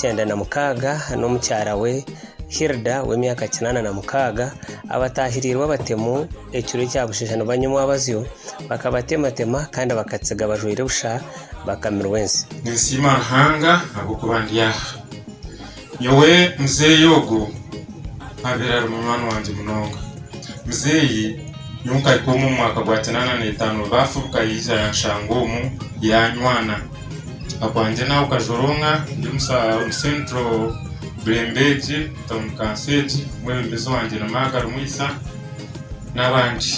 kyenda na mukaaga n'omukyara we Hilda w'emyaka kinaana na mukaaga abataahirirwe abatemu ekiro ekya busheesha nibanywa omwabazyo bakabatematema kandi bakatsiga bajwaire busha bakamirwa ensi ninsiima Ruhanga ahabw'okuba ndi aha nyowe muzeeyi ogwo abaire ari munywani wangye munonga muzeeyi nyowe nkahika omu mwaka gwa kinaana na itaano baafubuka yaija yanshanga omu yanywana Akwangye nawe kajoronga ndi omu central burembegi town council egi omwebembezi wangye ni Maga Rumwisa nabandi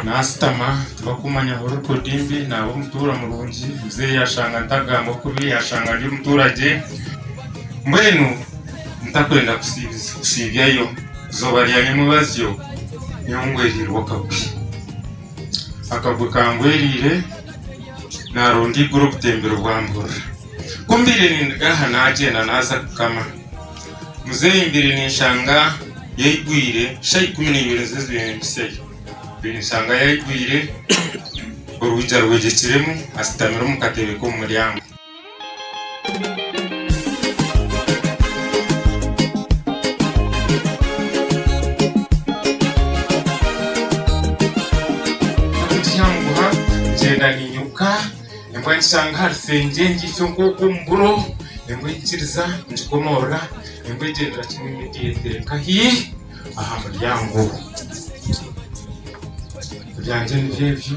nasitama tibakumanya ahu record ndi naba omutura murungi muzeyi yashanga ntagamba kubi yashanga ndi omuturagye mbwenu ntakwenda kusibyayo izoba ryanyemubazyo nyowe ngwerirwe akabi. akagwe kangweriire naronda eiguru obutembero bwamburira ku mbaire nindiga aha nagyenda naza kukama muzeeyi mbaire ninshanga yaigwire shaa ikumi neibiri nizo zibaire nimpisyayo mbaire ninshanga yaigwire orwija rwegyekiremu ashutamire omu katebe komuryango ekishanguha ngyenda ninyiruka nimba nikishanga aha rusengye ngiitsyo nk'oku omu buro nimba nkikiriza nkikomoorora nimba egyendera kimwe ngyeteka hi aha muryango ebyangye nibyo ebyo.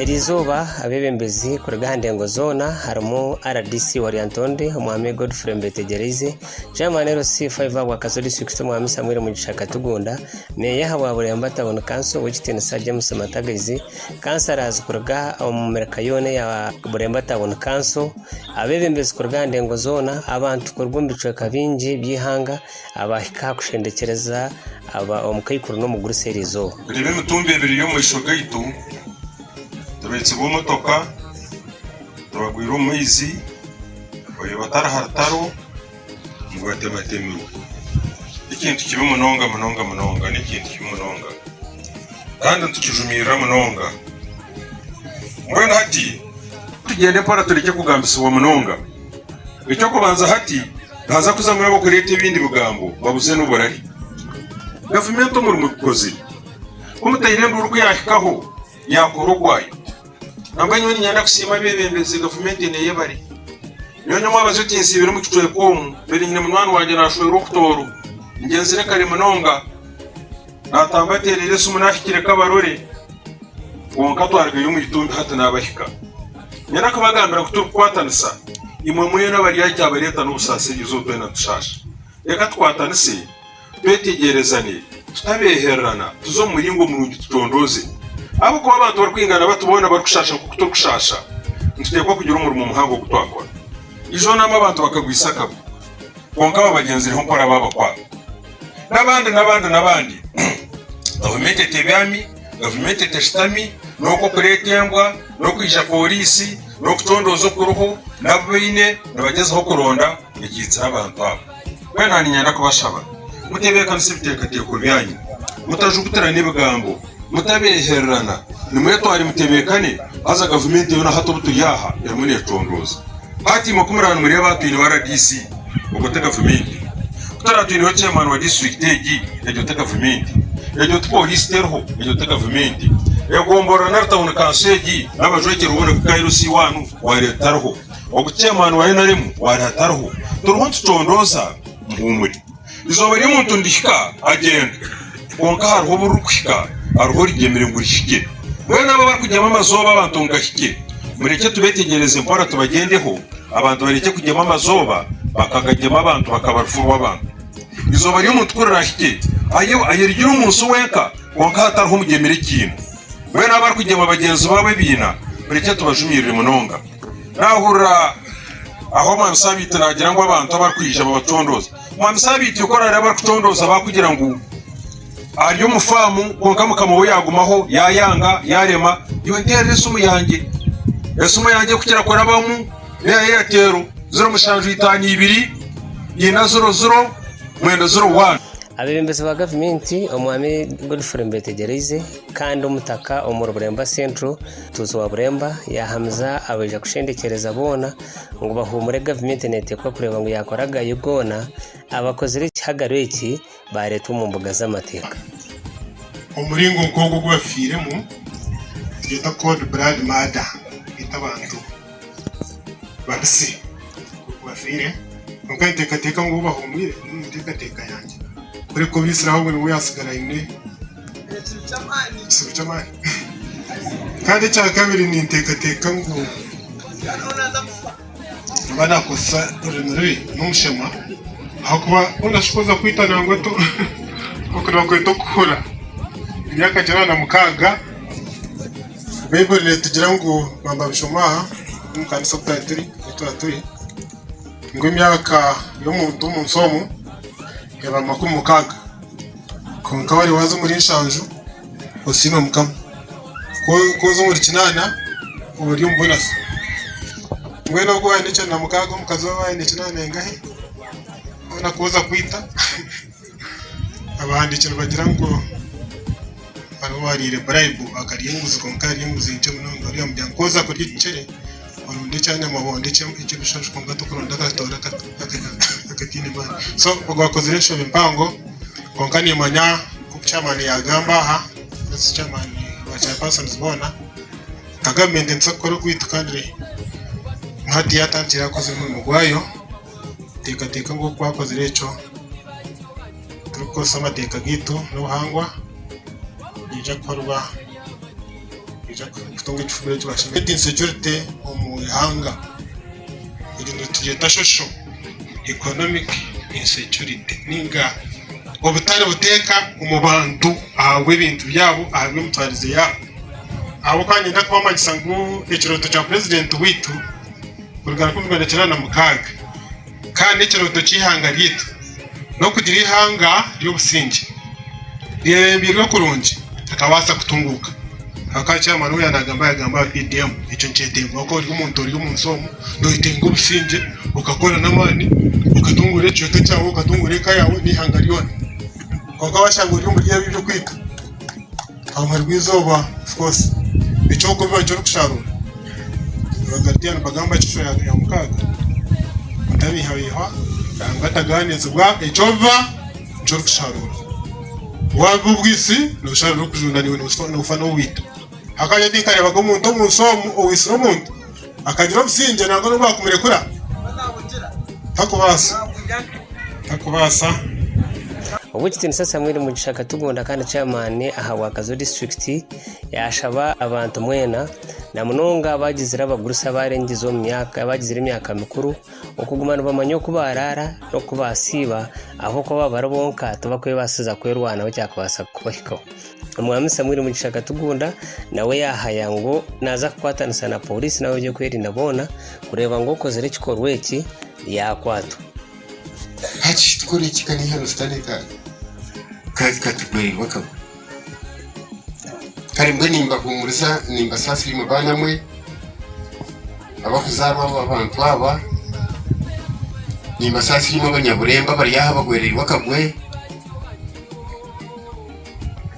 Eri izooba abeebembezi kuruga aha ndengo zoona harimu rdc wa Lyantonde omwami Godfrey Mbetegyereize, Chairman LC iv ahabwa Kazo District omwami Samuel Mugisha Katugunda, Meeya ahabwa Buremba Town Council ow'ekitiinisa James Matagaizi, Councillors kuruga omu mirika yoona eya Buremba Town Council, abeebembezi kuruga aha ndengo zoona, abantu kuruga omu bicweka bingi by'eihanga abaahika aha kushendekyereza aba omu kaikuru n'omu guru seeri eizooba. Buri b'emitumba ebiri y'omu maisho gaitu, tureetsirwe emotoka, turagwire omu maizi, oyo batari ha rutaro. ngu batematemirwe. N'ekintu kibi munonga munonga munonga, n'ekintu kibi munonga. Kandi nitukijumirira munonga. Mbwenu hati tugyende mpora turekye kugambisibwa munonga. Eky'okubanza hati nihaza kuzamu ab'okureeta ebindi bigambo babuze n'oburari. Gavumenti omuri mubikozire. Ku mutaine enduuru ku yaahikaho. Nyankore ogwayo. Kwonka nyowe niinyenda kusiima abeebembezi, gavumenti ena ey'ebare. Nyowe ndi omwabazi otinsiibire omu kicweka omu, mbaire nyine munywani wangye naashwerwa okutooro. Ngyenzire kare munonga, naatamba ateereire esimu naahikire Kabarore, kwonka twarugayo omu itumbi hati naabahika. Niinyenda kubagambira ngu turikukwatanisa, imwe mwena abari aha kyabareeta n'obusaasirizwa, twena tushaasha. Reka tukwatanise. Twetegyerezane, tutabeehererana, tuze omu muringo murungi tutondooze. Ahabw'okuba abantu barikwingana bati boona barikushaasha nk'oku turikushaasha, nituteekwa kugira omurimo muhango ogu twakora. Ijo naamwe abantu bakagwisa akabwa, kwonka babagyenzireho nkora baabakwata. N'abandi, n'abandi, n'abandi. Gavumenti etebyami, gavumenti etashutami, n'okwo kureeta embwa, n'okwija pooriisi, n'okutondooza okuriho, n'abu baine nibagyezaho kuronda, nibakiitsira abantu abo. Mbwenu aha niinyenda kubashaba muteebeekanisa ebiteekateeko byanyu, mutajugutirana ebigambo, mutabeehererana, nimwetware mutebeekane, haza gavumenti yoona hati obu turi aha erimu neecondooza. Hati imwe ku muraba nimureeba aha twineho RDC, ogwo ti gavumenti? Ku turaba twineho chairman wa disiturikiti egi, egyo ti gavumenti? Egyo ti pooriisi teriho, egyo ti gavumenti? Egomboloora nari tawuni kanso egi n'abajwekyerwa boona ku Kairos iwaanu, waareeba etariho? Ogu chairman wa nrm wari atariho turiho nitucondooza muhuumure eizooba ry'omuntu nirihika agyenda kwonka hariho obu ririkuhika hariho origyemire ngu rihikye mbwenu abo abarikugyema amazooba abantu ngu gahikye murekye tubetegyereze mpora tubagyendeho abantu barekye kugyema amazooba bakagagyema abantu bakaba rufu rw'abantu eizooba ry'omuntu ku rirahikye ayo ayerigire omu nsi wenka kwonka hatariho omugyemire ekiina mbwenu abarikugyema bagyenzi baabo ebiina murekye tubajumiirire munonga. Naahurira ahu Omwami Sabiiti naagira ngu abantu abarikwija babacondooze. Omwami Sabiiti oku araareeba barikucondooza baakugira ngu ari omu faamu kwonka mukama we yaagumaho yaayanga yaarema iwe nteerera esimu yangye. Esimu yangye ku kirakurabamu n'eya Airtel ziro mushanju itaano ibiri ina ziro ziro mwenda ziro waani. Abeebembezi ba gavumenti, Omwami Godfrey Mbetegyereize kandi Omutaka Omuri Bureemba Central, Tuusi wa Buremba yaahamiza abaija kushendekyereza boona ngu bahuumure gavumenti neeteekwa kureeba ngu yaakora agayo goona abakozire ekihagaro eki baareetwa omu mbuga z'amateeka. Omuringo nk'ogu ogu bafiiremu nigwetwa Cold Blood Murder, kwita abantu. Babise nk'oku bafiire, kwonka ninteekateeka ngu ou bahumwire ni omu nteekateeka yangye. Kureka obaitsire ahubwo niwe yatsigara aine ekitsibu ky'amaani. Kandi ekya kabiri ninteekateeka ngu nimba naakozesa orurimi rubi n'omushema ahakuba ou naashuka kuza kwita nangwa otu oku nibakweta okuhura. Emyaka gye abana mukaaga. Baiburi netugira ngu bamba bishoma aha omu kanisa omu twaaba turi ngu emyaka y'omuntu omu nsi omu eba makumi mukaaga kwonka waba waza omuri nshanju osiima mukama kwonka oza omuri kinaana oba ori omu bonasi mbwenu ogwo owaine ekyenda na mukaaga omukazi we aine ekyenda nengahe kwonka oza kwita. abahandiiki nibagira ngu hariho owaariire buraibu akarya enguzi kwonka yarya enguzi nkye munonga bariya nibagira ngu ku waaza kurya ekicere oronde eky'enyamabondo eky'ebishansha kwonka tokuronda akatooro akataine maani so ogwo akozire enshobe mpango kwonka niimanya nk'oku chairman yaagamba aha ezi chairman ba chair persons boona nka gavumenti nituza kukora ogwaitu kandi hati yaatandikire yaakora omurimo gwaayo. Teekateeka ngu ku waakozire ekyo turikukoresa amateeka gaitu n'obuhangwa, nikiija kukorwa, nikiija kutunga ekifuumiro eki baashemerire. Spreading security omu ihanga. Egi nitugyeta social economic insecurity nainga obutari buteeka omu bantu ahabw'ebintu byabo, ahabw'emitwarize yaabo. Ahabw'okuba niinyenda kubamanyisa ngu ekirooto kya purezidenti waitu kuruga rukumi rwenda kyenda na mukaaga kandi ekirooto ky'eihanga ryaitu n'okugira eihanga ry'obusingye rirerembeirwe kurungi rikabaasa kutunguuka ahakuba chairman we yaanagamba yaagamba aha PDM ekyo nikyetengywa ku ori omuntu ori omu nsi omu noyetenga obusingye okakora n'amaani okatunguura ekicweka kyaawe okatunguura eka yaawe n'eihanga ryona kwonka waashanga ori omuri ebi eby'okwita Ahabwire bw'eizooba of course eky'okubiba nikyo orikusharuura Obagaridiya nibagamba ngu kishwe ya mukaaga otabiihabiihwa Ruhanga atagaaniisibwa eky'obiba nikyo orikusharuura wabiba obwitsi nosharuura orikujunda naiwe nofa nobuita hakareeta nkareebaga omuntu omu nsi omu owaitsire omuntu Akagira obusingye nangwa n'obu baakumurekura? Takubaasa. Takubaasa. Ow'ekitiinisa Samuel Mugisha Katugonda kandi Chairman aha Rwakazo District yaashaba abantu mwena na munonga abaagizire abagurusi abaarengize omu myaka abaagizire emyaka mikuru okuguma nibamanya oku baaraara n'oku baasiiba ahabw'okuba baaba bari bonka tibakwebaasiza kwerwanaho kyakubaasa kubahikaho. Omwami Samuel Mugisha Katugunda nawe yahaya ngu naaza kukwatanisa na pooriisi n'ab'ebyokwerinda boona kureeba ngu okozire ekikorwa eki yaakwatwa. Hati tukore ki ka n'eihano Sitaane katugwererwa akagwe? Kare mbwenu nimbahuumuriza nimbasaasira imwe baana mwe abakuzaarwa aba bantu aba, nimbasaasira imwe abanyaburembo abari aha abagwereirwe akagwe.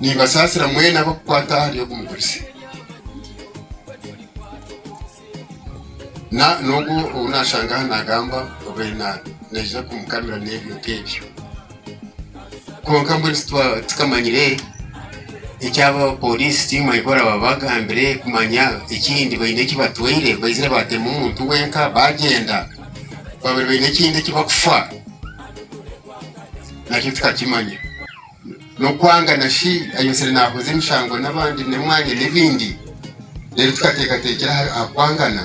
Nibasaasira mwena abarikukwata ahari ogu mugurusi, n'ogwo ou naashanga aha naagamba obe naija kumukamira n'ebyo nk'ebyo. Kwonka mbwenu tikamanyire eki aba pooriisi tiimanya eki oraaba waagambire kumanya ekindi baine eki batwire baizire baatema omuntu wenka baagyenda, baabaire baine ekindi eki barikufa. Nakyo tukakimanya. N'okwanga na shi ayebetsire nahuza emishango n'abandi n'emwanya n'ebindi. Reero tukateekateekyera aha aha kwangana.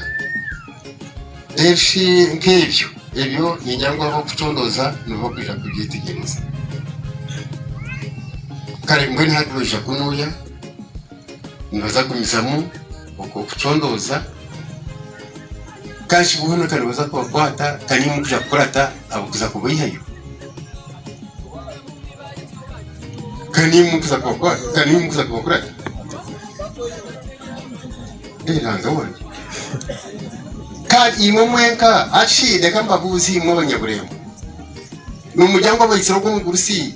Reero shi nk'ebyo, ebyo ningira ngu ab'okucondooza nibo bakwija kubyetegyereza. Kare mbwenu hati noija kunuya? nibaza kugumizamu okucondooza kashi boona ka nibaza kubakwata ka nimwo orikuza kukurata abarikuza kubaihayo ka nimwo orikuza kubakwata ka nimwo orikuza kubakurata Eh, Ruhanga wange kandi imwe mwenka ashi reka mbabuuze imwe abanyaburembo nimurya ngu abaitsire ogw'omugurusi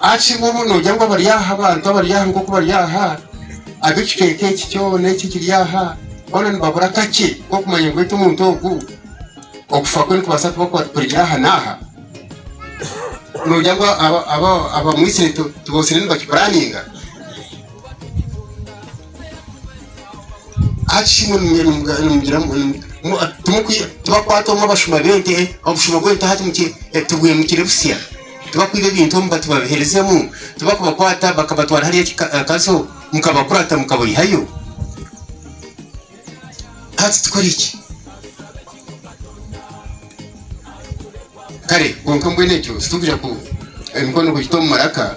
Ahabw'enki bumwe noogira ngu abari aha, abantu abari aha nk'oku bari aha, ab'ekicweka eki kyona eki ekiri aha, boona nibabura kakye k'okumanya ngu beitu omuntu ogu okufa kwe nikubaasa kuba kurigire aha n'aha? Noogira ngu abamwitsire tibotsire nibakipuraaninga? Hati imwe nimugira muti, Tibakwata omwe obushuma bw'ente hati mutubwire mukire busya? Tibakwiba ebintu omu bati babiherezamu? Tibakubakwata bakabatwara hariya Kazo mukabakwata mukabaihayo? Hati tukore ki? Kare kwonka mbwenu ekyo titurigira emikono kugiita omu maraka.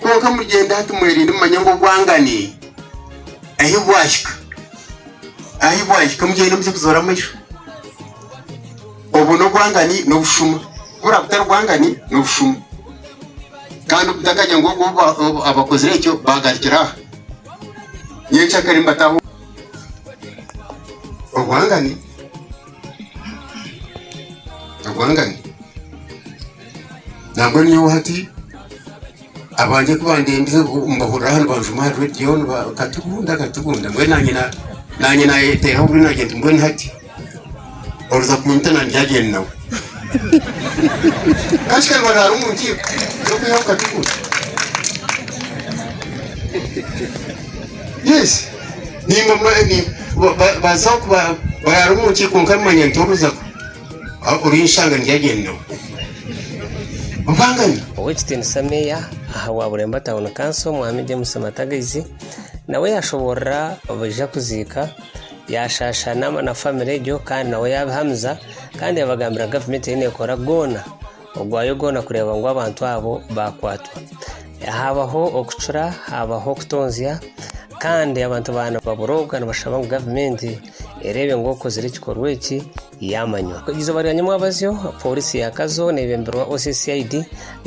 Kwonka muryende hati mwerinde mumanye ngu obwangane ahi bwahika, ahi bwahika mugyende mugye kuzoora amaisho. Obwo n'obwangane n'obushuma. Ku buraabe butari bwangane n'obushuma. Kandi mutakagire ngu obwo obu ba- obu abakozire ekyo baagarukira aha. Nyenkya kare mbataho obwangane, obwangane. nangwa nyowe hati abangye ku bandembize mbahurira aha nibanjuma aha rediyo bakatugunda bakatugunda mbwenu nanye nanye nayeteeraho buri nagye nti mbwenu hati orikuza kunyita na ndyagyend nawe kandi kare baraara omu nkiiko z'okwihaho katugundi yes nimba mwe- ni- ba- ba- bazaho kuba- baraara omu nkiiko nkamanya nti oruza ku- Ow'ekitiinisa Meeya aha wa Bureemba Tawuni Kanso, Mwami James Matagaizi, nawe yaashoboorora baija kuziika, yaashaasha na famire egyo kandi nawe yaabihamiza kandi yaabagambira gavumenti ei neekora goona Ogwayo goona kureeba ngu abantu abo baakwatwa. Haabaho okucura, haabaho okutonzya kandi abantu baaba nibaburooga nibashaba ngu gavumenti ereebe ngu okozire ekikorwa eki yaamanywa. Eizooba rya nyamwabazyo, pooriisi ya Kazo neebembirwa OCCID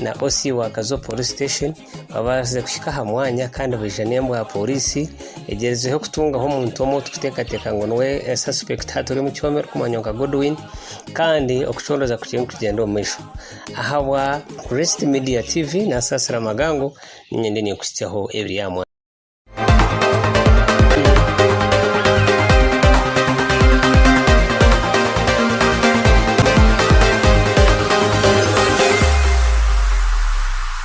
na OC wa Kazo Police Station. Babaasize kuhika aha mwanya kandi baija n'embwa ya pooriisi egyerizeho kutungaho omuntu omwe ou turikuteekateeka ngu niwe sasipekiti haaba turi omu kyoma erikumanywa nka Godwin kandi okucoroza kukye nikugyenda omu maisho. Ahabwa Kurist Media TV Nasaasira Magango niinye ndiyo ninkuhitsyaho ebiri aha mwanya.